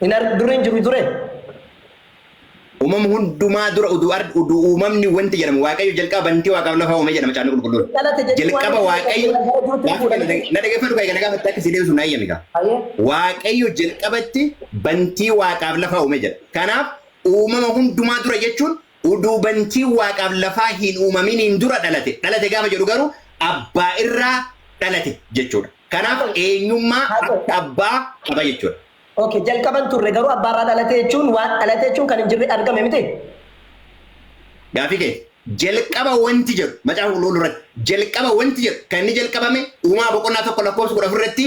Hin arg dur hin jiru ture. Uumama hundumaa dura udu ard udu uumamni wanti jedhamu Waaqayyo jalqaba bantii waaqaaf lafaa uume jedha Macaafni Qulqulluun. Hin dhalate jechuun waan Jalqaba hin jirre Waaqayyo kana gara jirtu gaaffii kana jechuudha. dhag- na dhaggeeffadhu kaa kana gaafatte akka si deebisu na eeyyami kaa. Hayyee. Waaqayyo jalqabatti bantii waaqaaf lafaa uume jedha. Kanaaf uumama hundumaa dura jechuun Uduu bantiin Waaqaaf lafaa hin uumaminiin dura dhalate, dhalate gaafa jedhu garuu Abbaa irraa dhalate jechuudha. Kanaaf Okay. eenyummaa Haata'u. Abba Abbaa qaba jechuudha. Okay, jalqaba hin turre garuu abbaa irraa dhalate jechuun waan dhalate jechuun kan hin jirre argame miti? Gaafii kee jalqaba wanti jedhu macaafa qulqulluu irratti jalqaba wanti jedhu kan inni jalqabame uumaa boqonnaa tokko lakkoofsa kudha afur irratti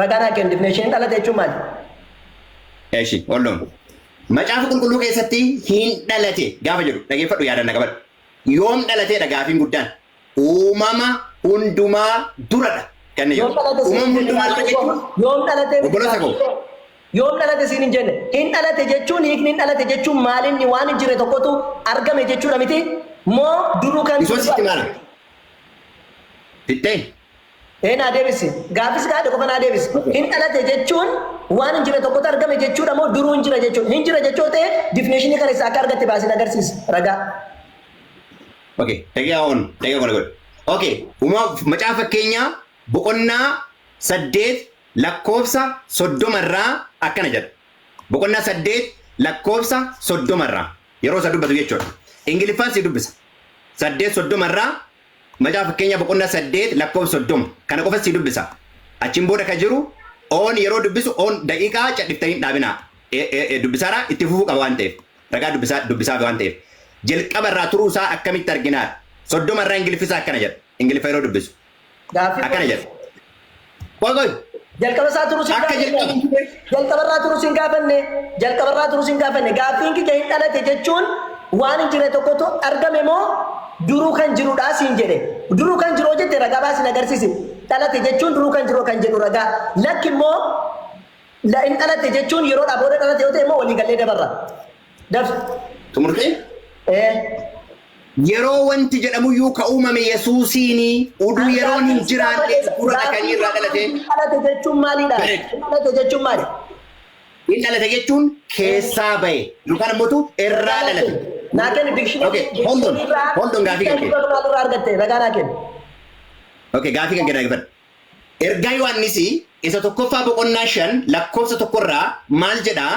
Ragaan Haaqqiin difineeshiniin dhalate jechuun maali? Eshi, hold on. Macaafa Qulqulluu keessatti hin dhalate gaafa jedhu dhageeffadhu yaadaan na qabadhu. Yoom dhalateedha gaafiin guddaan? Uumama hundumaa duradha kan inni Yoom jedhu. dhalate siin Uumama hin jenne hundumaa dura gaaffiin koo? jechuun Yoom dhalate miti obboloota gaaffiin koo. koo? Yoom dhalate siin hin jenne? Hin dhalate jechuun hiikni hin dhalate jechuun maali inni waan hin jirre tokkotu argame jechuudha miti? Moo duruu kan Isoon sitti maala? Fixxee? Ee naa deebisi. Gaaffii si gaafadhe qofa naa deebisi. Okay. Hin dhalate jechuun waan hin jirre tokkotu argame jechuudha moo duruu hin jira jechuudha? Hin jira jechuu yoo ta'e definition kana eessaa akka argatte baasii na agarsiisi. Ragaa. Okay. Daqiiqaa on. Daqiiqaa kona godhe. Okay. Uumaaf macaafa fakkeenyaa boqonnaa saddeet lakkoofsa soddoma irraa akkana jedha. Boqonnaa saddeet lakkoofsa soddoma irraa yeroo isa dubbatu jechuudha. Ingiliffaan si dubbisa. Saddeet soddoma irraa Macaafa Fakkeenyaa boqonnaa 8 lakkoofsa 30 kana qofan sii dubbisa. Achiin booda ka jiru oon yeroo dubbisu oon daqiiqaa cadhiftanii hin dhaabinaa. E, e, e, dubbisaara itti fufuu qaba waan ta'eef. Ragaa dubbisaa, dubbisaafi waan ta'eef. Jalqaba irraa turuu isaa akkamitti arginaar? 30 irraa Ingiliffi isaa akkana jedha. Ingiliffa yeroo dubbisu. Gaaffii Akkana jedha. kootiif Qoy qoy. Jalqaba isaa turu sin Akka jalqaba hin gaafanne. turre. Jalqaba irraa turu sin gaafanne. Jalqaba irraa turu sin gaafanne. Gaaffiin kiyya hin dhalate jechuun waan hin jirre tokkotu argame moo duruu kan jirudhaa siin jedhe. Duruu kan jiru jette ragaa baasi na agarsiisi. Dhalate jechuun duruu kan jiru kan jedhu ragaa. Lakki immoo la hin dhalate jechuun yeroodhaa booda dhalate yoo ta'e immoo walii gallee dabarra. Daf. Xumurtee? Ee. Yeroo wanti jedhamuyyuu ka uumame Yesuusiini, uduu yeroon hin jiraanne dura dhaqanii irraa dhalate. Hin dhalate jechuun maalii dha? Bareeda. Hin dhalate jechuun maali? Hin dhalate jechuun keessaa bahe yookaan ammoo tu irraa dhalate. Naa kenni dikshinii. Okay, hold on. Hold on, gaafii kan kee. Maalirraa argatte? Ragaa naa kenni. Okay, gaafii kan kenna dhaggeeffadhu. Ergaa Yohaannisi isa tokkoffaa boqonnaa shan lakkoofsa tokkorraa maal jedhaa?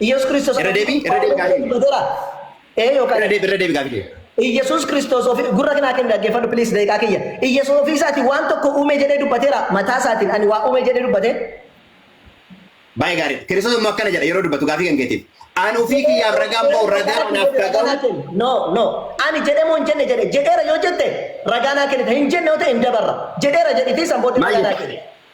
Iyyasuus Kiristoos Irra deebi, irra deebi gaaffii. dubbateera. Ee yookaan Irra deebi, irra deebi gaaffii kee. Iyyasuus Kiristoos ofii gurra kanaa kenna dhaggeeffadhu please daqiiqaa kiyya. Iyyasuus ofii isaatiin waan tokko uume jedhee dubbateera. Mataa isaatiin ani waa uume jedhee dubbate. Baay'ee gaarii. Kiristoos immoo akkana jedha yeroo dubbatu gaaffii kan keetiif. Ani ofii kiyyaaf ragaan ba'u ragaa anaaf dhaga'u. No, no. Ani jedhee moo hin jenne jedhe. Jedheera yoo jette ragaa naa kennita. Hin jenne yoo ta'e hin dabarra. Jedheera jedhitii san booddee Maal ragaa naa jette? kennita.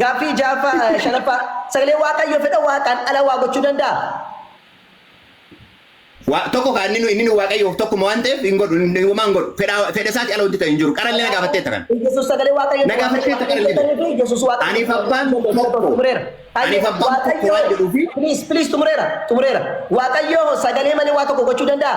Gaaffii 6ffaa, 5ffaa, Sagalee Waaqayyoo fedha Waaqaan ala waa gochuu danda'aa? Waa, tokko kaa inni nu inni nu Waaqayyoof tokkuma waan ta'eef hin godhu, hin- homaa hin godhu. Fedha fedha isaati ala wanti ta'e hin jiru. Qarallee na gaafatteetta kana. Yesuus sagalee Na Waaqayyootti waan gaafatteetta waan qarallee. ta'eef ta'eef Yesuus Waaqayyo Aniif abbaan tokko. xumureera. Aniif abbaan tokko Waaqayyo waan jedhuu fi- please please xumureera xumureera. Waaqayyo sagalee malee waa tokko gochuu danda'a?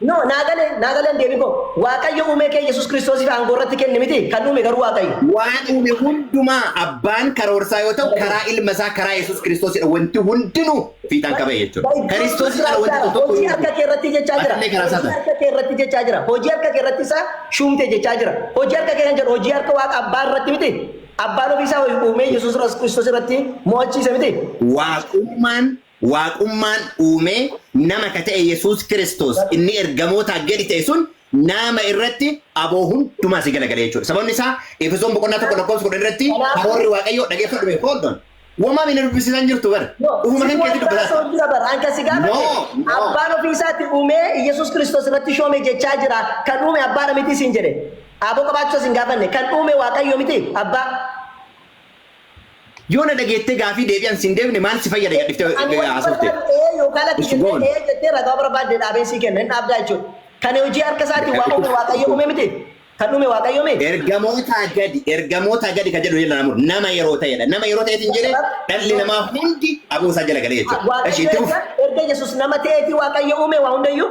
No, naa gale, naa gale hin deebiin koo. Waaqayyo uumee kee Yesuus Kiristoosiif aangoo irratti kenne miti, kan uume garuu Waaqayyo. Waan uume hundumaa abbaan karoorsaa yoo ta'u karaa ilma isaa karaa Yesuus Kiristoosidha wanti hundinuu fiixaan ka ba'e jechuudha. By God's Kiristoosii ala wanti grace, tokko hojii hin harka uumamu. kee irratti jechaa jira. Atillee karaa Hojii isaa ta'a. harka kee irratti jechaa jira. Hojii harka kee irratti isaa shuumte jechaa jira. Hojii harka kee kan jedhu hojii harka waaqa abbaa irratti miti. Abbaan ofii isaa uumee Yesuus Kiristoos irratti mo'achiise miti. Waaqummaan Waaqummaan uumee nama ka ta'e Yesuus Kiristoos inni ergamootaa gadi ta'e sun naama irratti aboo hundumaa si galagalee jechuudha. Sababni isaa Efesoon boqonnaa 1 lakkoofsa 10 irratti karoorri Waaqayyoo dhageeffadhu mee hold on. Womaa mee na dubbisiisaa hin jirtu bar. Ufuma kan keetti dubbataa jirta. jira bar anka si gaafate No, no. abbaan ofii isaatti uumee Yesuus Kiristoos irratti shoome jechaa jira kan uume abbaadha miti siin jedhe aboo qabaachuu isin gaafanne kan uume Waaqayyo miti abbaa Yoo na dhageettee gaafii deebii an siin deebine maal si fayyada gad dhiftee Ani wanti haasofte. barbaadu ee yookaan lakki Isu jettee goon. ee jettee ragaa barbaadde dhaabeen sii kenna hin dhaabdaa jechuudha. Kan hojii harka isaatiin waa uume waaqayyo uume miti? Kan uume waaqayyo miti? Ergamootaa gadi ergamootaa gadi kan jedhu jala namu nama yeroo ta'edha. Nama yeroo ta'eetiin jedhe dhalli namaa hundi aboo isaa jala galee jechuudha. Eshi Waaqayyo itti fufi. erga erga Yesuus nama ta'eetii waaqayyo uume waa hundayyuu?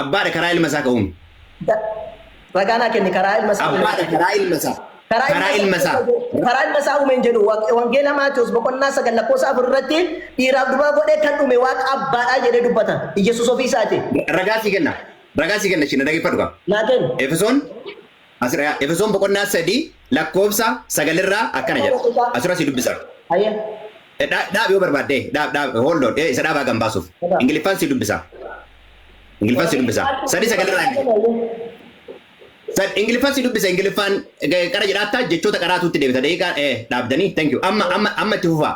Abbaa dha karaa ilma isaa ka uume. Da, Ragaa naa kenni karaa ilma isaa Abbaa uumeen. dha karaa ilma isaa Karaa ilma karaa isaa ilma uumeen isaa. jedhu. Karaa ilma isaa uumeen jedhu. Wa- Wangeela Maatewos boqonnaa 9 lakkoofsa 4 irratti dhiiraaf durbaa godhee kan uume waaqa abbaa dha jedhee dubbata. Iyyasuus ofii isaati. Ragaa sii kenna. Ragaa sii kenna ishii na dhageeffadhu kaa. Naa kenni. Efesoon As irra yaa. Efesoon boqonnaa 3 lakkoofsa 9 irraa akkana jedha. As irra sii dubbisa. Hayyee. Dha, dhaab yoo barbaadde, eh, dhaab, dhaab, hold on, eh, isa dhaabaa kan baasuuf. Dhagaa. Ingiliffaan sii dubbisa. Ingiliffaan sii dubbisa. Sadii sagal irraa inni. Sad, Ingiliffaan sii dubbisa. Ingiliffaan eh, qara jedhaattaa jechoota qaraatuutti deebita. Daqiiqaa eh, dhaabdanii. Thank you. Amma, amma, amma itti fufaa.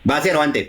Baaseera waan ta'eef.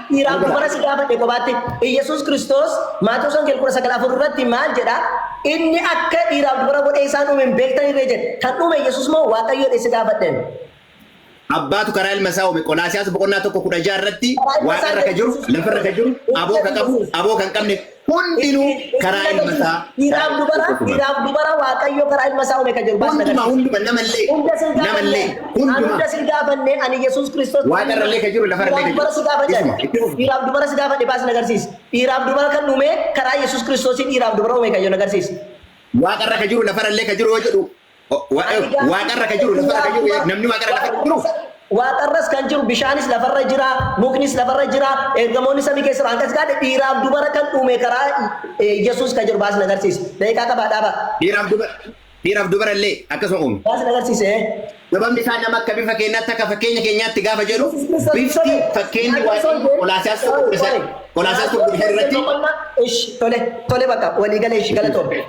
Dhiiraaf Dhugaa. dubara si gaafadhe kophaatti Iyyasuus Kiristoos Maatewos Wangeela kudha sagal afur irratti maal jedha? Inni akka dhiiraaf dubara godhee isaan uume hin beektan irree jedhe. Kan uume Iyyasuus moo Waaqayyo jedhee si gaafadhe? Abbaatu karaa ilma isaa uume. Qolaasiyaas boqonnaa tokko kudha ja'a irratti waaqarra kan jiru, lafarra kan jiru, aboo kan qabu, aboo kan qabne, hundinuu karaa ilma isaa dhiiraaf dubara dhiiraaf dubara waaqayyo karaa ilma isaa uume kan jedhu baasna hundumaa hunduma namallee hunda sin namallee gaafanne an hunda hundumaa sin gaafanne ani yesuus kiristoos waaqa irrallee kan jiru lafa irrallee dhiiraaf kan dubara si jiru gaafadhe isuma itti fufu dhiiraaf dubara si gaafadhe baas na agarsiisi dhiiraaf dubara kan uume karaa yesuus kiristoosiin dhiiraaf dubara uume kan jedhu na agarsiisi waaqa irra kan jiru lafa irrallee kan jiru yoo jedhu Waaqarra ka jiru lafarra ka jiru namni waaqarra lafarra jiru. Waaqarras kan jiru bishaanis lafarra jira muknis lafarra jira ergamoonni samii keessa jiru hanqas gaadhe dhiiraaf dubara kan uume karaa Yesuus ka jiru baasni agarsiisa daqiiqaa qabaa dhaabaa. Dhiiraaf dubara dhiiraaf dubara illee akkasuma uume. Baasni agarsiisa. Sababni isaa nama akka bifa keenyaatti akka fakkeenya keenyaatti gaafa jedhu bifti fakkeenyi waaqayyo Qolaasiyaas tokko kudha sadii Qolaasiyaas tokko kudha sadii irratti. Tole tole bakka walii galee ishii galatoom.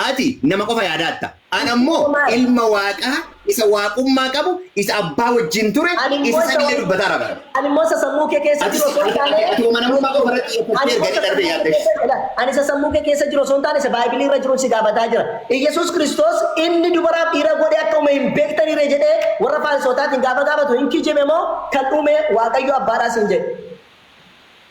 Ati nama qofa yaadaatta, ana immoo Ilma Waaqaa isa Waaqummaa qabu, isa Abbaa wajjin ture, isa sagalee dubbataara bara. Ani immoo isa sammuu kee keessa jiru osoo hin taane, Ati amanamummaa qofa irratti xiyyeeffattee erga jedhe darbee yaadda ishee. Ani isa sammuu kee keessa jiru osoo hin taane, isa Baaybilii irra jirun si gaafataa jira. Iyyasuus Kiristoos inni dubaraaf dhiira godhee akka uume hin beektanii ree jedhee warra Faarisootaatiin gaafa gaafatu hin kijibe moo kan uume Waaqayyo Abbaadhaa siin jedhe?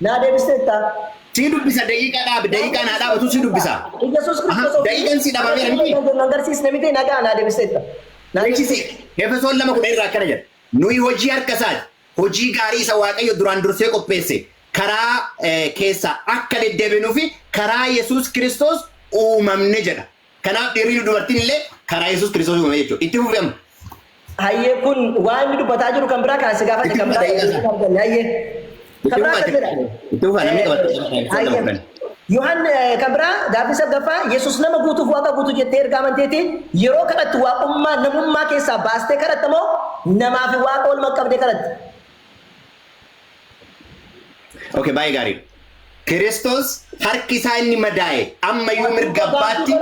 Naa deebisteettaa? Sii dubbisa daqiiqa dhaabi daqiiqaan haa dhaabatu si dubbisa. Iyyasuus Aha, Kiristoos ofii daqiiqan si dhabameera miti? kan jennu agarsiisne miti nagaa naa deebisteetta. Naa Jechi deebisteetta. seeq Efesoon 2:10 irraa akkana jedha. Nuyi hojii harka isaati, hojii gaarii isa Waaqayyo duraan dursee qopheesse karaa eh, keessaa akka deddeebinuu fi karaa Yesuus Kiristoos uumamne jedha. Kanaaf dhiirrii fi dubartiin illee karaa Yesuus Kiristoos uumame jechuudha. Itti fufi amma. Hayyee kun waan inni dubbataa jiru kan biraa kan si gaafadhe Itti kan fufa biraa daqiiqaa isaa. arganne hayyee. Itti Kan biraa fufa akkas jedha. itti fufa namni qabatu qaba kan ibsan nama fudhan. Yohan kan biraa gaaffii saggaffaa Yesuus nama guutuuf waaqa guutuu jettee erga amanteeti yeroo kadhattu waaqummaa namummaa keessaa baastee kadhatta moo namaa fi waaqa oolmaa qabdee kadhatta? Okay, baay'ee gaarii. Kiristoos harki isaa inni madaa'e amma iyyuu mirga abbaatti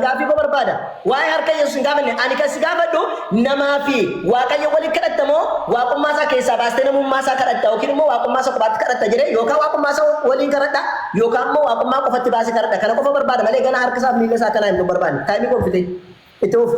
Gaaffii koo barbaada. Waa'ee harka Yesuus hin gaafanne. Ani kan si gaafadhu namaa fi Waaqayyo waliin kadhatta moo waaqummaa isaa keessaa baastee namummaa isaa kadhatta yookiin immoo waaqummaa isaa kophaatti kadhatta jedhee yookaan waaqummaa isaa waliin kadhadha yookaan immoo waaqummaa qofatti baasee kadhadha. Kana qofa barbaada malee gana harka isaa fi miila isaa akkanaa hin barbaanne. Taa'imii koo fitee itti fufi.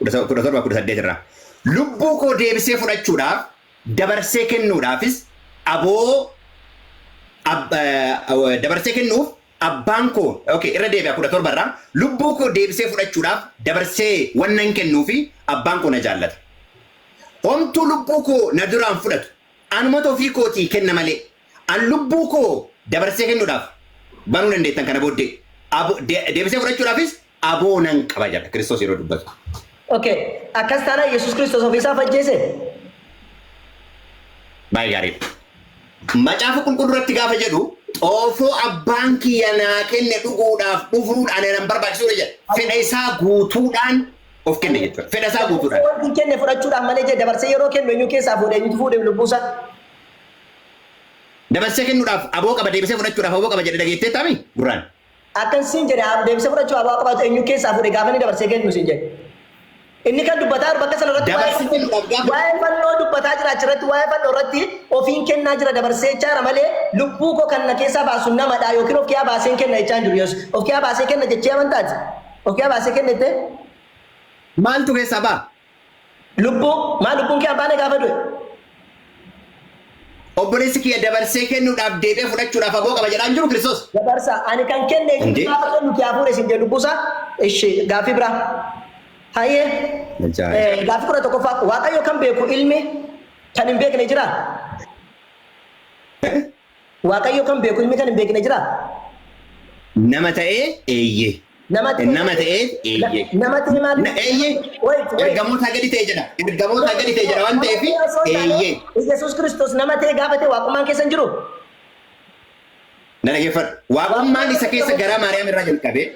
17, 18 irraa. Lubbuu koo deebisee fudhachuudhaaf, dabarsee kennuudhaafis aboo ab, eh, dabarsee kennuuf abbaan koo okay, irra deebi'a 17 irraa lubbuu koo deebisee fudhachuudhaaf dabarsee wannan kennuufi abbaan koo na jaallata. Homtuu lubbuu koo na duraan fudhatu anumatu ofii kootii kenna malee. An lubbuu koo dabarsee kennuudhaaf banuu dandeettan kana booddee abo, de, deebisee fudhachuudhaafis aboo nan qaba jedha Kiristoos yeroo dubbatu. Ok, akkas taanaan Yesuus Kiristoos ofii isaa of ajjeese? Baay'ee gaariidha. Macaafa qulqulluu irratti gaafa jedhu xoofoo abbaan kiyya naa kenne dhuguudhaaf dhufuun ana nan barbaachisuudha jedha. Fedha isaa guutuudhaan of kenne jechuudha. Fedha isaa Dabarsee guutuudhaan. wanti hin kenne fudhachuudhaan malee jee dabarsee yeroo kennu eenyu keessaa fuudhe eenyutu fuudhe lubbuu isaa? dabarsee kennuudhaaf aboo qaba deebisee fudhachuudhaaf aboo qaba jedhe dhageetteettaa mii? Gurraan. Akkan siin jedhe abo deebisee fudhachuuf aboo akka qabaatu enyuu keessaa fuudhe gaafa inni dabarsee kennu siin jedhe? Inni kan dubbataa jiru bakka sana irratti waa'ee Dabarsee kennuudhaaf fannoo gaafa waa'ee fannoo dubbataa jira achirratti waa'ee fannoo irratti ofiin kennaa jira dabarsee jechaa jira malee lubbuu koo kan na keessaa baasu namadha yookiin of kiyaa baaseen kenna jechaa hin jiru Yesus. Of kiyaa baasee kenna jechee amantaati? Of kiyaa baasee kenna jettee? Maaltu keessaa ba'a? Lubbuu, maa lubbuun kee abbaanee gaafa du'e? Obboleessi kiyya dabarsee kennuudhaaf deebi'ee fudhachuudhaaf aboo qaba jedhaa hin jiru Kiristoos. Dabarsa, ani kan kenne eenyutu Hundee. gaafa kennu kee hafuure siin jedhe lubbuusaa? Ishi, gaaffii biraa. Hayyee. Ajaa'iba. Eh, Gaaffii kudha tokkoffaa. Waaqayyo kan beeku ilmi kan hin beekne jiraa? Waaqayyo kan beeku ilmi kan hin beekne jiraa? Nama ta'ee? Eeyyee. Nama ta'ee? Nama ta'ee? Eeyyee. Nama ta'ee maal? Na, eeyyee. Wait, wait. Ergamootaa gadi ta'e jedha. Ergamootaa gadi ta'e jedha waan ta'eef Nama ta'ee osoo hin taane, eeyyee. Yesuus Kiristoos nama ta'ee gaafa ta'e waaqummaan keessa hin jiru? Na dhageeffadhu. Waaqummaan isa keessa garaa Maariyaam irraa jalqabee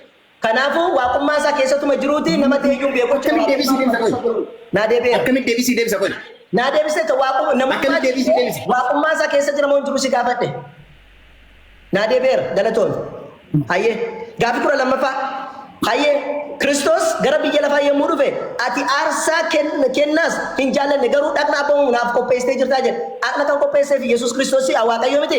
Kanaafuu, Waaqummaa isaa keessatuma jiruutii nama ta'e iyyuu beekuu jechuudha. Akkamitti deebisii deebisa Waaqummaa isaa qoy? keessatuma jiru. Naa deebi'eera. Akkamitti deebisii deebisa qoy? Naa deebiseetta waaqummaa namummaa Akkamitti deebisii deebisa? waaqummaa isaa keessa jira moo hin jiru si gaafadhe. Naa deebi'eera galatoomi. Hayyee gaaffii kudha lammaffaa. Hayyee Kiristoos gara biyya lafaa yommuu dhufe ati aarsaa ken- kennaas hin jaallanne garuu dhaqna abboomamu naaf qopheessitee jirtaa jedhe. Dhaqna kan qopheesseef Yesuus Kiristoos si'a Waaqayyoo miti.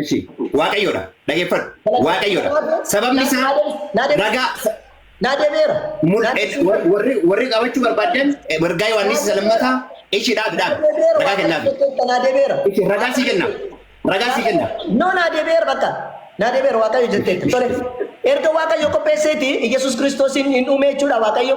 Eshi. Waaqayyoodha. Dhageeffadhu. Waaqayyoodha. Sababni isaa ragaa Naa deebi'eera. mul- Naa eh, deebi'eera. war- warri warri qabachuu barbaadan eh, wargaa Yohaannis isa lammataa ishii dhaabi dhaabi. Ragaa kennaafi. Naa deebi'eera. Ishi ragaa sii kenna. Ragaa sii kenna. No, naa deebi'eera bakka. Naa deebi'eera Waaqayyo jetteetti. Tole. Erga Waaqayyo qopheesseeti Yesuus Kiristoosiin hin uume jechuudha Waaqayyo.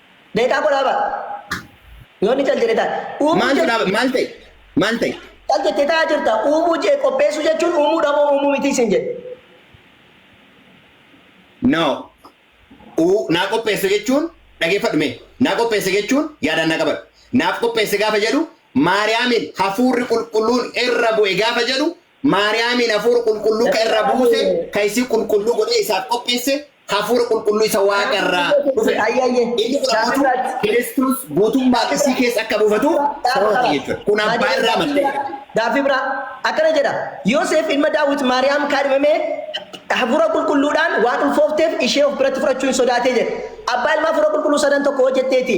Beekaa koo dhaabaa. Yoo inni cal jedhe taate. Uumuu Maaltu jechuun dhaaba maal ta'e? Maal ta'e? cal jettee taa'aa jirta. Uumuu jee qopheessuu jechuun uumuudha moo uumuu mitii siin jedhe. No. Uu naa qopheesse jechuun dhageeffadhu mee. Naa qopheesse jechuun yaadaan naa qabadhu. Naaf qopheesse gaafa jedhu Maariyaamiin hafuurri qulqulluun irra bu'e gaafa jedhu Maariyaamiin Hafuura Qulqulluu ka irra buuse, ka isii qulqulluu godhee isaaf qopheesse, Hafuura Qulqulluu isa Waaqa irraa dhufe dha. Inni kun ammoo tu Kiristoos guutummaan isii keessa akka buufatu sababa ta'e jechuu dha. Kun Abbaa irraa madde. Gaaffii biraa akkana jedha, Yooseef ilma Daawit Maariyaam kaadhimamee Hafuura Qulqulluu dhaan waan ulfoofteef ishee of biratti fudhachuu hin sodaatee jedhe. Abbaa Ilmaa Hafuura Qulqulluu sadan tokko hoo jettee ti?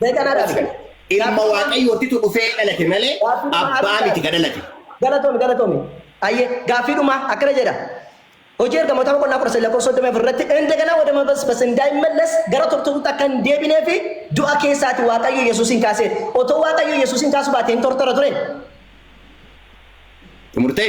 Mee kana dhabi kana. Ilma waaqayyootitu dhufee dhalate malee abbaa miti ka dhalate. Galatomi galatomi. Ayye gaaffii dhumaa akkana jedha. Hojii ergamootaa boqonnaa 13 lakkoofsa 34 irratti indagana wada mabasbas indaaimmallas gara turtuutti akka hin deebinee fi du'a keessaati waaqayyo Yesuusiin kaasee otoo waaqayyo Yesuusiin kaasuu baate hin tortora ture. Xumurtee?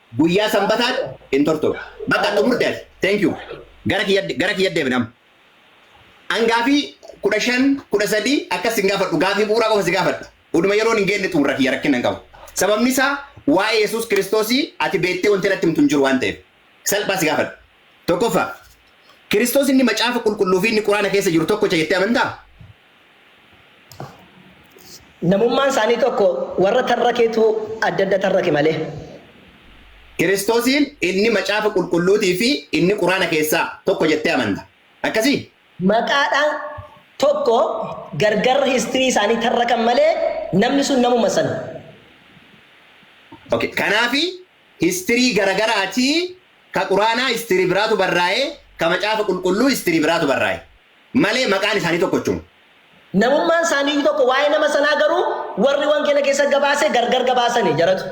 Guyyaa sanbataat hin tortoru. Bakka xumurte ati. Thank you. Gara kiyya gara kiyya deebina amma. An gaafii 15, 13 akkas sin gaafadhu gaafii bu'uuraa qofa si gaafadha. Uduma yeroon hin geenne xumurra kiyya rakkina hin qabu. Sababni isaa waa'ee Yesuus Kiristoosii ati beettee wanti natti himtu hin jiru waan ta'eef. Salphaa si gaafadha. Tokkoffaa, Kiristoos inni Macaafa Qulqulluu fi inni Quraana keessa jiru tokkocha jettee amantaa? Namummaan isaanii tokko warra tarrakeetu adda adda tarrake malee. Kiristoosiin inni Macaafa Qulqulluutii fi inni Quraana keessaa tokko jettee amanta. Akkasii? Maqaadhaan tokko gargar history isaanii tarrakan malee namni sun namuma sana. Ok kanaafi history garagaraatii ka Quraanaa history biraatu barraa'e ka Macaafa Qulqulluu history biraatu barraa'e. malee maqaan isaanii tokkochuma. Namummaan isaaniiyyuu tokko, waa'ee nama sanaa garuu warri wangeela keessatti gabaase gargar gabaasani, jaratu.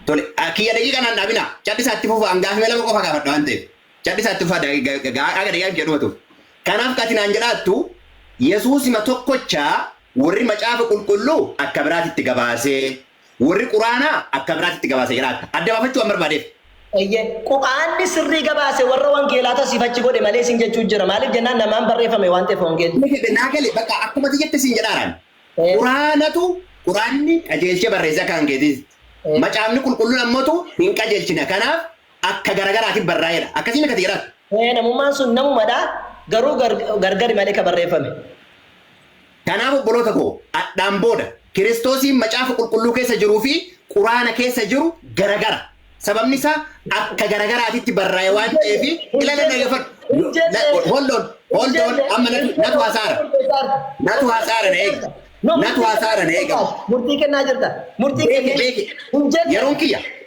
Tole, kiyya daqiiqa naan dhaabinaa. Cadhisaa itti fufaa, an gaafima lama qofa gaafadha waan ta'eef. Cadhisaa itti fufaa haga daqiiqaa kiyya dhumatuuf. Kanaaf ka ati naan jedhaattu Yesuusima tokkocha warri Macaafa Qulqulluu akka biraatitti gabaasee. Warri Qur'aanaa akka biraatti itti gabaase jira. Adda baafachuu waan barbaadeef. Eyyee. Qur'aanni sirrii gabaase warra wangeelaatu asiif achi godhe malee siin jechuu jira. Maaliif jennaan namaan barreeffame waan ta'eef wangeelli. Ni fedhe naa gale bakka akkuma ati jette siin jedhaara ani. Ee. Qur'aanatu Qur'aanni qajeelchee barreesse akka kan keetiitti. Ee. Macaafni qulqulluun ammotu hin qajeelchina kanaaf akka gara garaatiin barraa'eedha. Akkasii miti ati jedhaatu. Ee namummaan sun namumadha garuu gargari malee ka barreeffame. Kanaaf obboloota koo, adhaan booda, Kiristoosiin Macaafa Qulqulluu keessa jiruu fi Quraana keessa jiru garagara. Sababni isaa akka garagaraatitti barraa'e waan ta'eef, ilala dhaggeeffadhu. Hold on, hold on, amma natu, natu hasaara. Natu hasaara na eegi. Natu hasaara na eega. Murtii kennaa jirta. Murtii Beeki, kennee. beeki. Hin jenne. Yeroon kiyya.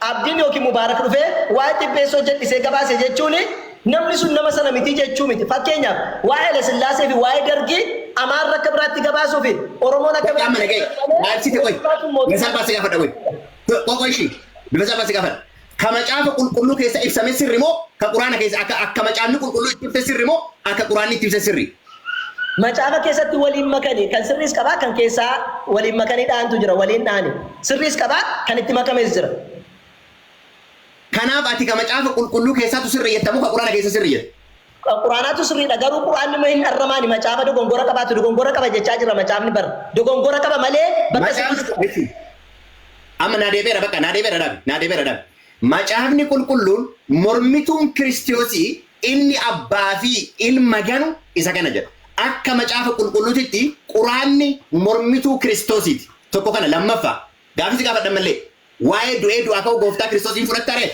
Abdiin ykn Mubaarak dhufee waa'ee Xibbeessoo jal'isee gabaase jechuun namni sun nama sana miti jechuu miti. Fakkeenyaaf, waa'ee Hayilasillaasee fi waa'ee Dargii Amaarri akka biraatti gabaasuu fi Oromoon akka Bakka amma biraatti dhaga'e gabaasuu malee maal siti qoy Hayilasillaasuun mootummaa Mesaa baa si gafadha qoy Qo qoy ishii Mesaa baa si gafadha Ka macaafa qulqulluu keessa ibsame sirri moo ka quraana keessa akka akka macaafni qulqulluu itti ibse sirri moo akka quraanni itti ibse sirri Macaafa keessatti waliin makani kan sirriis qaba kan keessaa waliin makanii dha'antu jira waliin dha'ani sirriis qaba kan itti makames jira. Kanaaf ati ka macaafa qulqulluu keessaatu sirri jetta moo ka quraana keessa sirri jetta? Ka quraanaatu sirriidha garuu quraanni immoo hin arramaani macaafa dogongora qabaatu dogongora qaba jechaa jirra macaafni bar dogongora qaba malee bakka sirriis Macaafni qaba. listen amma naa deebi'eera bakka naa deebi'eera dhaabi naa deebi'eera dhaabi. Macaafni qulqulluun mormituun Kiristiyoosii Inni Abbaa fi Ilma ganu isa kana jedha. Akka Macaafa Qulqulluutitti Quraanni mormituu Kiristoosiiti. Tokko kana. Lammaffaa, gaaffii si gaafadha ammallee. Waa'ee du'ee du'aa ka'uu Gooftaa Kiristoos hin fudhatta ree?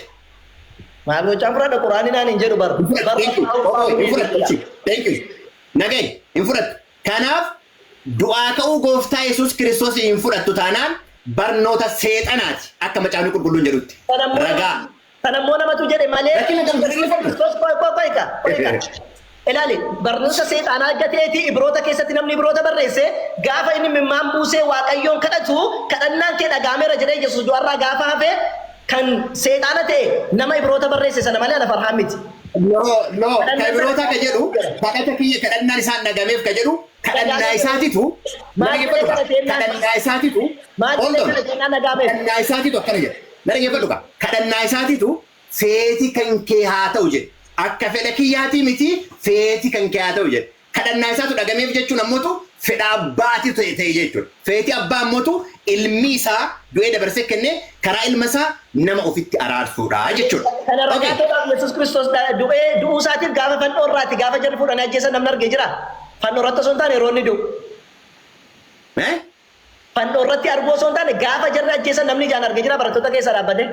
Maal gochaan fudhadha Quraanni naan hin jedhu bar. Hin Bar fudhattu. Thank you. Obbo, hin fudhattu. Achi. Thank you. Nagayi. Hin fudhattu. Kanaaf du'aa ka'uu Gooftaa Yesuus Kiristoos hin fudhattu taanaan barnoota seexanaati akka Macaafni Qulqulluun jedhutti. Ragaa. Kana immoo namatu jedhe malee Lakki na barsiisa barsiisa. Kiristoos qoy qoy qoy kaa qoy kaa. Ilaali barnoota seexaanaa gateeti ibroota keessatti namni ibroota barreesse gaafa inni mimmaan buusee waaqayyoon kadhatu kadhannaan kee dhagaameera jedhee Yesuus du'arraa gaafa hafe kan seexaana ta'e nama ibroota barreesse sana malee ana farhaan miti. No, no, Kadhannaan kan biroota sana- ka jedhu, kadhata kiyya kadhannaan isaan dhagameef ka jedhu, kadhannaa Dhagaamee- isaatitu, Maal jedhee dhaggeeffatu, kadhate jennaan? kadhannaa isaatitu, Maal hold jedhee on, kana jennaan dhagaameef? kadhannaa isaatitu akkana jedha. Na dhaggeeffadhu kaa! Kadhannaa isaatiitu, Feeti kan kee haa ta'u jedhe. Akka fedha kiyyaatii miti, feeti kan kee haa ta'u jedhe. Kadhannaa isaatu dhagameef jechuun ammotu fedha Abbaati ta'e ta'e jechuudha. Feeti Abbaa ammotu Ilmi isaa du'ee dabarsee kenne karaa Ilma isaa nama ofitti araarsuudha jechuudha. Kana ragaa Okay. ta'uudhaaf Yesuus Kiristoos dha, du'ee, du'uu isaatiif gaafa fannoo irraati, gaafa jarri fuudhanii ajjeesan namni arge jiraa? Fannoo irratti osoo hin taane yeroo inni du'u. Eh? Fannoo irratti arguu osoo hin taane gaafa jarri ajjeesan namni ijaan arge jira barattoota keessa dhaabbatee?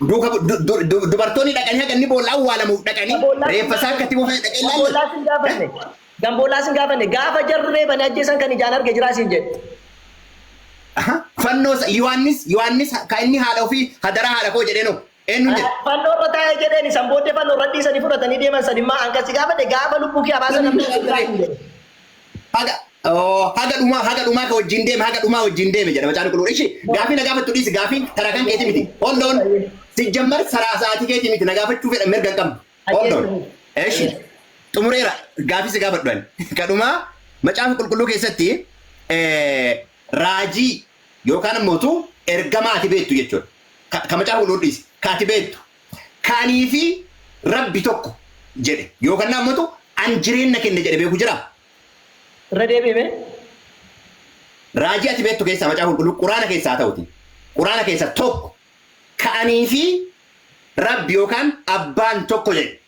Duuka bu- du- du- du- dubartoonni dhaqanii haga inni boolla awwaalamuuf dhaqanii Gamboolaa reeffa isaa akka itti buufatan dhaqee ilaalle. Gamboolaa sin gaafanne. Gamboolaa sin gaafanne. Gaafa jarri reebanii ajjeesan kan ijaan arge jiraa siin jedhe. Aha. Fannoo isa- Yohaannis Yohaannis kan inni haadha ofii hadaraa haadha koo jedhee noo. Eenyuun jedhe? Fannoo irra taa'e jedheen isan booddee fannoo irra dhiisanii fudhatanii deeman san immaa an kasi gaafadhe gaafa lubbuu kee habaasa namni Namni dhugaa hin jedhe. Haga oo, haga dhumaa haga dhumaa ka wajjin deeme haga dhumaa wajjin deeme jedha macaan qulqulluu. Ishi gaafii na gaafattu dhiisi gaafii tara kan keeti miti. Hold on. Sijjammar saraa sa'aatii keeti miti na gaafachuu fedha mirga hin qabdu. Hold on. Ishi xumureera gaafii si gaafadhu ani. Ka dhumaa macaafa qulqulluu keessatti eh, raajii yookaan immoo utu ergamaa ati beektu jechuudha. Ka, ka macaafa qulqulluu dhiisi. Ka ati beektu. Kanii fi rabbi tokko jedhe yookaan immoo utu an jireenna kenne jedhe beeku jira. Irra deebi'i mee. Raajii ati beektu keessaa macaafa qulqulluu quraana keessaa haa ta'uti. Quraana keessaa tokko ka anii fi rabbi yookaan abbaan tokko jedhe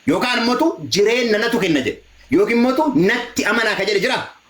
yookaan immoo utu jireenna natu kenna jedhe yookiin immoo utu natti amanaa ka jedhe jira.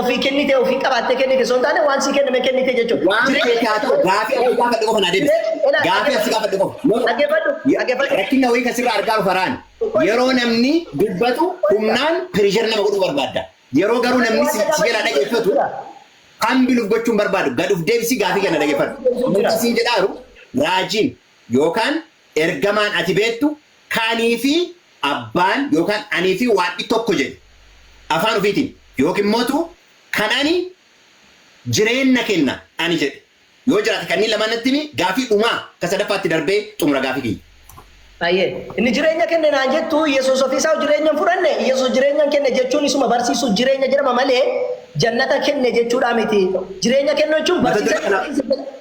Ofii kennitee ofii qabaattee kennite osoo hin taane waan sii kenname kennite jechuudha. Waan Jireenya- feete haa ta'u gaafii asii gaafadhe qofa naa deebisi. Ilaa- Gaafii asii gaafadhe qofa. No, no. Dhaggeeffadhu, dhaggeeffadhu. Rakkina wayii kan sirraa argaa faraan yeroo namni dubbatu humnaan pirishar nama godhuu barbaadda. Yeroo garuu namni si si jalaa dhaggeeffatu hambiluuf gochuun barbaadu gad of deebisii gaafii kana dhaggeeffadhu. Namni siin jedhaaru raajiin yookaan ergamaan ati beektu kaanii fi abbaan yookaan anii fi Waaqi tokko jedhi afaan ufiitiin yookiin mootuu kan ani jireenna kenna ani jedhe yoo jiraate kanneen lamaan natti himi gaafii dhumaa ka sadaffaatti darbee xumura gaafii kiyya. Hayyee. Inni jireenya kenne naan jettu Iyyasuus ofii isaa jireenya hin fudhanne Iyyasuus jireenya hin kenne jechuun isuma barsiisuuf jireenya jedhama malee jannata kenne jechuudhaa miti. Jireenya kennu jechuun barsiisa.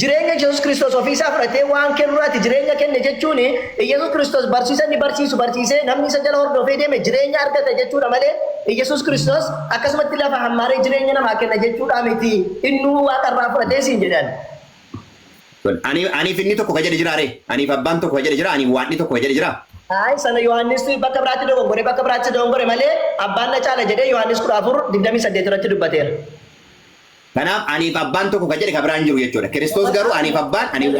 Jireenya Iyyasuus Kiristoos ofii isaa fudhatee waan kennu irraati jireenya kenne jechuun Iyyasuus Kiristoos barsiisa inni barsiisu barsiisee namni isa jala hordofee deeme jireenya argata jechuudha malee Iyyasuus Kiristoos akkasumatti lafa hammaaree jireenya namaa kenna jechuudhaa miti innuu waaqa irraa fudhatee siin jedhan. Tole, ani, aniif inni tokko ka jedhe jiraa ree? Aniif abbaan tokko ka jedhe jiraa? Aniif waadni tokko ka jedhe jiraa? Ayi sana Yohaannis bakka biraatti dogongore bakka biraatti dogongore malee abbaan na caala jedhee Yohaannis 14:28 irratti dubbateera. Kanaaf aniif abbaan tokko ka jedhe ka biraan jiru jechuudha. Kiristoos garuu aniif abbaan ani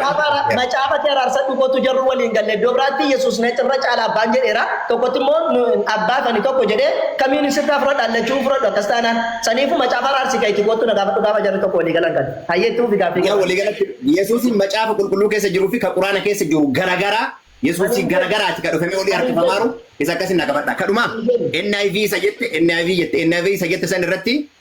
Macaafatti araarsadhu kootu jarru waliin galle iddoo biraatti Yesuus na irra caala abbaan jedheera. Tokkotti immoo abbaa kani tokko jedhee kamiin sirraa fudhadha allachuu fudhadhu akkas taanaan saniifu macaafa araarsi ka itti kootu na gaafadhu gaafa jarri tokko walii galan kan. Hayyee itti fufi gaaffii Yaa walii galatti Yesuusiin macaafa qulqulluu keessa jiruu fi ka quraana keessa jiru garagaraa Yesuusii garagaraati ka dhufamee olii harkifamaaru isa akkasiin na gaafadha. Kadhumaa NIV isa jette NIV jette NIV isa jette san irratti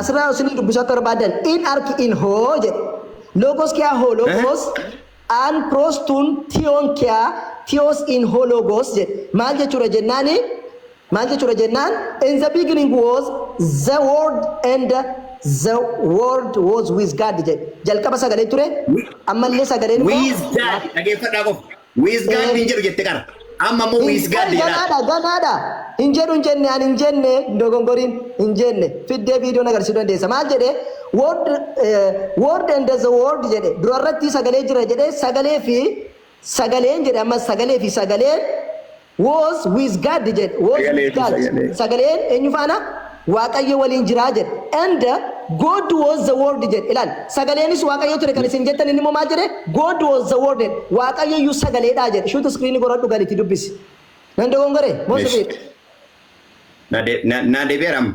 Asirraa yoo isinii dubbisuu akka barbaaddan in ark in hoo jedhe. Logos kiyaa hoo logos an pros tun tion kiyaa tios in hoo logos jedhe. Maal jechuudha jennaani maal jechuudha jennaan in the beginning was the word and the word was with God jedhe. Jalqaba sagalee ture ammallee sagaleen immoo Wiiz daad dhageeffadhaa qofa. With God hin jedhu jette qara. Amma immoo Hin- with God bari jedhaa. ganaadha ganaadha hin jedhu hin jenne ani hin jenne hin dogongoriin hin jenne fiddee viidiyoon agarsiisuu dandeessa maal jedhe word eh, word and the word jedhe dura irratti sagalee jira jedhe sagalee fi sagaleen jedhe ammas sagalee fi sagaleen Was with God jedhe. Was Sagalee with fi God. sagalee. Sagaleen eenyu faana? Waaqayyo waliin jira jedhe. And God was the word jedhe. Ilaal. Sagaleenis Waaqayyo ture kan isin jettan inni immoo maal jedhe? God was the word jedhe. Waaqayyo iyyuu sagaleedha jedhe. Shuuti iskiriinii goradhu galiitii dubbisi. Nan dogongore? Moo Esh. sirriidha? Na de- na- na deebi'eera amma.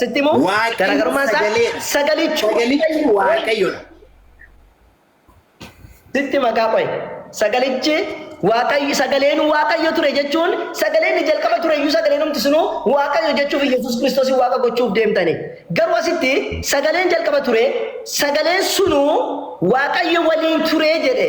Sitti immoo Waaqayyo garaagarummaa isaa sagalee- sagalichi Sagalichi Waaqayyodha. sitti maqaa qo'e. Sagalichi Waaqayyo sagaleen Waaqayyo ture jechuun sagaleen inni jalqaba ture iyyuu sagaleen humti sunuu Waaqayyo jechuuf Yesuus Kiristoos Waaqa gochuuf deemtani. Garuu asitti sagaleen jalqaba ture sagaleen sunuu Waaqayyo waliin ture jedhe.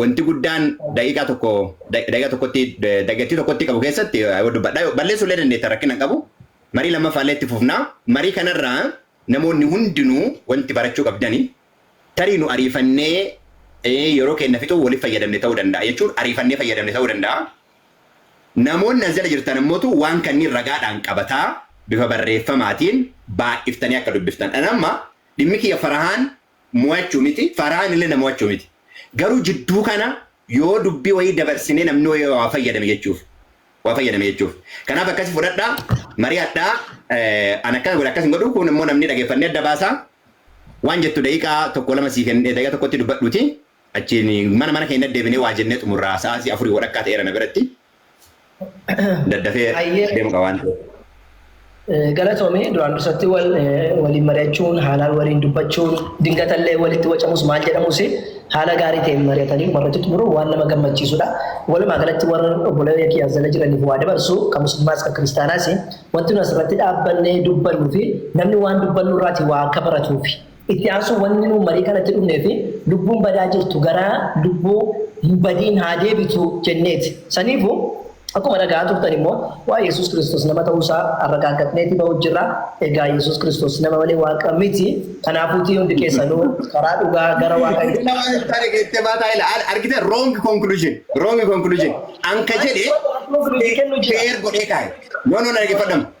wanti guddaan daqiiqaa tokko daqiiqaa tokkotti dagattii tokkotti qabu keessatti yoo dubbadha balleessuu illee dandeetta rakkina hin qabu marii lammaffaa illee itti fufnaa marii kanarraa namoonni hundinuu wanti barachuu qabdani tarii nu ariifannee yeroo keenya fixuu waliif fayyadamne ta'uu danda'a jechuun ariifannee fayyadamne ta'uu danda'a. Namoonni as jala jirtan ammootu waan kanneen ragaadhaan qabataa bifa barreeffamaatiin baay'iftanii akka dubbiftan. Dhan amma dhimmi kiyya farahaan mo'achuu miti, Farahaan illee na mo'achuu miti. Garuu jidduu kana yoo dubbii wayii dabarsinee namni wayii waa fayyadame jechuuf. Waa fayyadame jechuuf. Kanaaf akkasi fudhadhaa, mari'adhaa, ani akkana godha akkas hin godhu, kuun immoo namni dhageeffannee adda baasaa. Waan jettu daqiiqaa tokko lama sii kennee daqiiqaa tokkotti dubbadhuutii. Achiin mana mana keenya deebinee waa jennee xumurraa sa'aatii afurii walakkaa ta'eera na biratti daddafee Hayyee. deemu qaba waan ta'eef. Eh, Galatoomii duraan dursatti wal, eh, waliin mari'achuun haalaan waliin dubbachuun dingatallee walitti wacamus maal jedhamus haala gaarii ta'een mari'atanii warratti xumuruun waan nama gammachiisudha. Walumaa galatti warra obboleeyya kiyyaas jala jiraniif waa dabarsu kan musliimaas kan kiristaanaas wanti nu asirratti dhaabbannee dubbannuu fi namni waan dubbannu irraati waa akka baratuufi. Itti aansuun wanni nuun marii kanatti dhufneefi lubbuun badaa jirtu gara lubbuu hin badiin haa deebitu jenneeti. Saniifu akkuma dhaga'aa turtan immoo waa'ee Yesuus Kiristoos nama ta'uu isaa arragaaggatneeti ba'uu jirra. Egaa Yesuus Kiristoos nama malee Waaqa miti. Kanaafuutii hundi keessanuu karaa dhugaa gara Waaqayyoo Isin nama hin taane geettee baataa ila al- argite wrong conclusion wrong conclusion anka jedhe Conclusion kennuu jira. fair godhee kaa'e no no na dhaggeeffadhama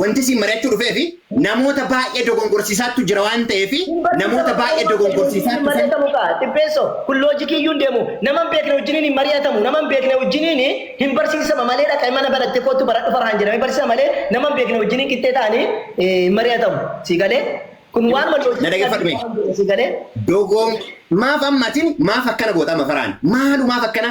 Wanti isin mari'achuu dhufeefi namoota baay'ee dogongorsiisaattu jira waan ta'eef namoota baay'ee dogongorsiisaattu san. Hin mari'atamu kaa Xibbeesso kun loojikii iyyuu hin deemu nama hin beekne wajjiniin hin mari'atamu nama hin beekne wajjiniin hin barsiisama malee dhaqai mana baratte koottu baradhu farhaan jedhamee barsiisama malee nama hin beekne wajjiniin qixxee ta'anii hin mari'atamu sii galee kun waanuma Na loojikii dhaggeeffadhu mee. addunyaa sii galee Dogoon maaf amma atin maaf akkana goota amma faraan maalu maaf akkana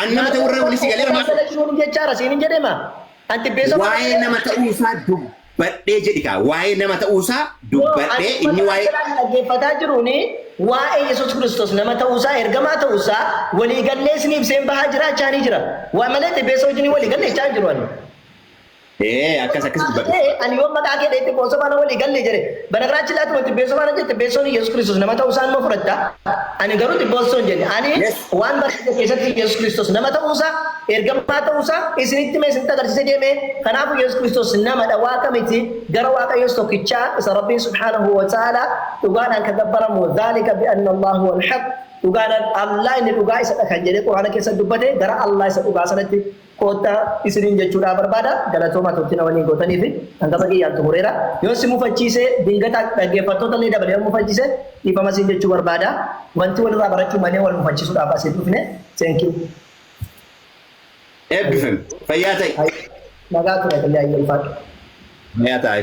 An nama ta'uu irraa wani si galeera maaf? Maasala jiruun jechaara siin hin jedhee maa? An xibbeessa Waa'ee nama ta'uu isaa dubbadhee jedhi kaa. Waa'ee nama ta'uu isaa dubbadhee inni waa'ee. Kan dhaggeeffataa jiruun waa'ee Yesuus Kiristoos nama ta'uu isaa ergamaa ta'uu isaa walii gallee isinii ibseen bahaa jiraachaa ni jira. Waa malee xibbeessa wajjin walii galle jechaa jiru ani. Ee akkas akkas dubbadhu. Ee, ani yoon maqaa kee dheetti boosoo faana walii galle jedhe. Banagaraachin laatti wanti beesoo faana jette beesoon Yesuus Kiristoos nama ta'uu isaa nama fudhatta. Ani garuu xibboosoo hin jenne. Ani Yes. waan barsiise keessatti Yesuus Kiristoos nama ta'uu isaa, ergamaa ta'uu isaa isinitti mee isinitti agarsiise deemee. Kanaafuu Yesuus Kiristoos namadha waaqa miti. Gara waaqayyoos tokkichaa isa Rabbiin subhaanahu wa ta'ala dhugaadhaan kan gabbaramu dhaalika bi'anna Allahu wal haq. Dhugaadhaan Allah inni dhugaa isadha kan jedhee Quraana keessatti dubbate gara Allah isa dhugaa sanatti koottaa isiniin jechuudhaa barbaada. Galatoomaa turtii na waliin gootaniif kan gama kiyyaan xumureera. Yoo si mufachiisee dingata dhaggeeffattoota illee dabalee yoo mufachiise dhiifama siin jechuu barbaada. Wanti walirraa barachuu malee wal mufachiisuudhaaf asiin dhufne. Thank you. Eebbifami. Fayyaa ta'i. Nagaa ture fayyaa hin ulfaadhu. Fayyaa ta'a.